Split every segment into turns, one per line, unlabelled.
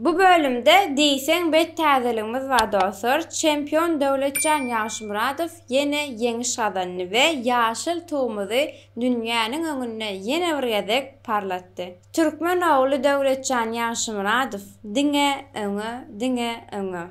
Bu bölümde diýseň bet täzeligimiz bar dostlar, çempion Döwletjan Ýagşymyradow ýene ýeňiş gazandy we ýaşyl tugumyzy dünýäniň öňünde ýene bir gezek parlatdy. Türkmen ogly Döwletjan Ýagşymyradow diňe öňe, diňe öňe!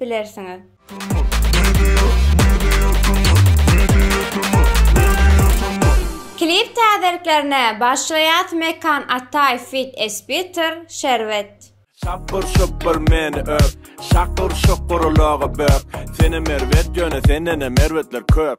bilersiňiz. Klip täzeliklerine başlaýas Mekan Ataýew feat Spiter, Şerbet. Şapbyr şupbyr meni öp, Şakyr şukur ulagy bök, Senem erbet ýöne sendenem erbetler köp.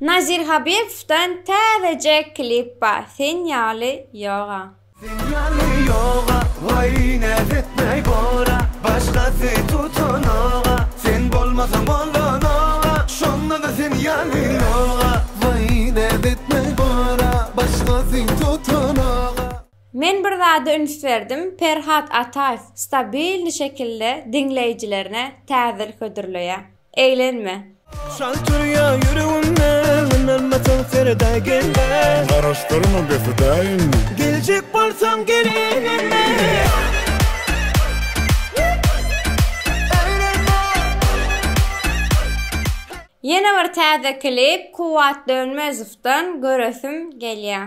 Nazir Habibowdan täzeje klip ba Sen ýaly ýoga. Sen ýaly ýoga Waý näz etmäý bora Başgasy tutanoga Sen bolmasaň bolanoga Şondada sen ýaly ýoga Waý näz etmäý bora Başgasy tutanoga. Men bir zada üns berdim Perhat Ataýew stabilny şekilde diňleýjilerine täzir hödürleýä. Eýlenme. Şal turya ýüregimde Ynanmasaň sereda gelme Garaşdyrma befeda indi Geljek bolsaň gelinime Ýene bir täze klip Kuwwat Dönmezowdan göresim gelýär.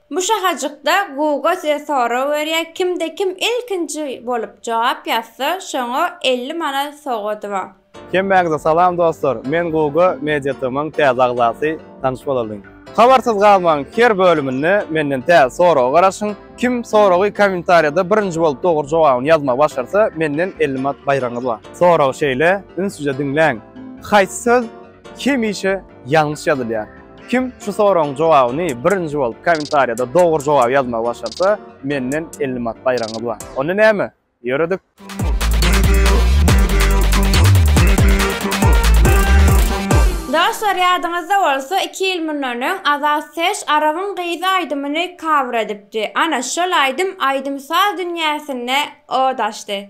Bu şahajykda Google size sorag berýär, kimde kim ilkinji bolup jogap ýazsa, şoňa elli manat sowgady bar. Hemmäňize salam dostlar! Men Google Media TM-yň täze agzasy, tanyş bolalyň! Habarsyz galmaň, her bölüminde menden täze soraga garaşyň, kim soragy kommentariýada birinji bolup dogry jogabyny ýazmagy başarsa, menden elli manat baýragyňyz bar. Sorag şeýle, ünsüje diňläň, Haýsy söz hemişe ýalňyş ýazylýar. Kim şu soragyň jogabyny birinji bolup kommentariýada dogry jogaby ýazmagy başarsa, menden elli manat baýragyňyz bar. Onda näme? Ýöredik! Dostlar ýadyňyzda bolsa iki ýyl mundan öň Azat Ses Arabyň gyzy aýdymyny cover edipdi. Ana şol aýdym aýdym-saz dünýäsinde od açdy.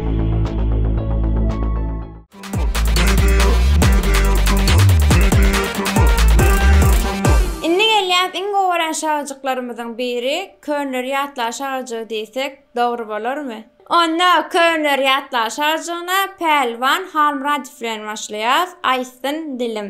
Indi gelýäs iň gowy gören şagyjyklarymyzyň biri Köner ýatlar şagyjygy diýsek dogry bolarmy? Onda Köner ýatlar şagyjygyna Pälwan Halmyradow bilen başlaýas, Aýtsyn dilim.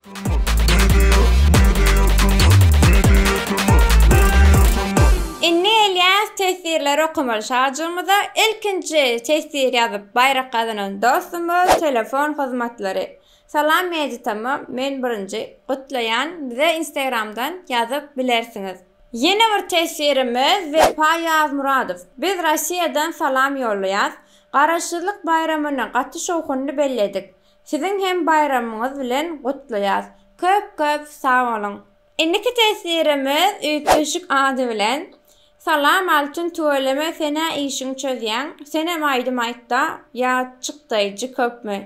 Indi gelýäs teswirleri okamaly şajygymyza. Ilkinji teswir ýazyp baýrak gazanan dostumyz Telefon hyzmatlary. Salam Mejit amma men birinji gutlaýan bize instagramdan ýazyp bilersiňiz. Ýene bir teswirimiz Wepa Ýazmyradow. Biz Rossiýadan salam ýollaýas. Garaşsyzlyk baýramyny gaty şowhunly belledik. Siziň hem baýramyňyz bilen gutlaýas. Köp köp sag boluň. Indiki teswirimiz üýtgeşik ady bilen Salam Altyn tüweleme senä işiň çözýäň senem aýdym aýtda ýa çykdaýjy köpmi.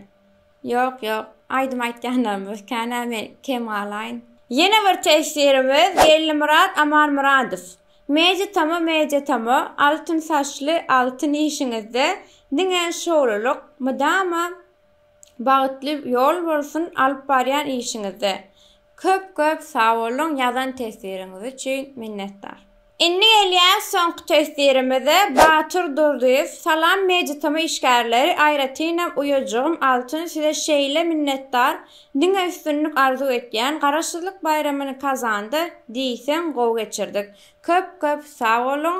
Ýok ýok aýdym aýtýanlarymyz känä men kem galaýyn. Ýene bir teswirimiz Gellimyrat Amanmyradow Media tama media tama altyn saçly altyn işiňizde diňe şowlulyk mydama Bagytly ýol bolsun alyp barýan işiňizde. Köp köp sagboluň ýazan teswiriňiz üçin minnetdar. Indi gelýär soňky teswirimiz Batyr Durdyýew Salam Meditama işgärleri aýratynam uýajygym Altyn size şeýle minnetdar diňe üstünlik arzuw etýän Garaşsyzlyk baýramyny Kazanda diýseň gowy geçirdik köp köp sagboluň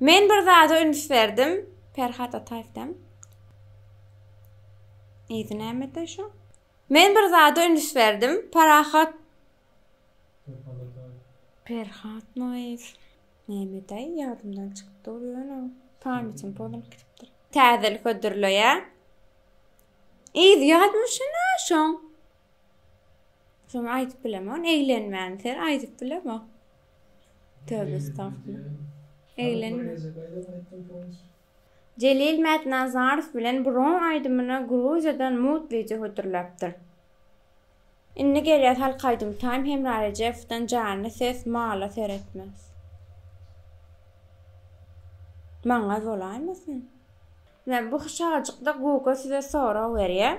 Men bir zada üns berdim. Perhat Ataýew dem. Ýedi nämede şu? Men bir zada üns berdim. Parahat Perhat Noýew. Nämede ýadymdan çykyp dur ýöne pamýatim pozulyp gidipdir. Täzelik hödürleýä. Ýedi ýadmyşyna şoň. Şoň aýdyp bilemok, eglenmän ser aýdyp bilemok. Töbe estagfirullah. Eglenme. Jelil Mätnazarow bilen Buron aýdymyny Gruziýadan Mutlyja hödürläpdir. Indi gelýär halk aýdymy Taým Hemra Rejepowdan Janly ses mala seretmez. Maňa bolaýmasyn? Ine bu şajykda Guga size sorag berýär.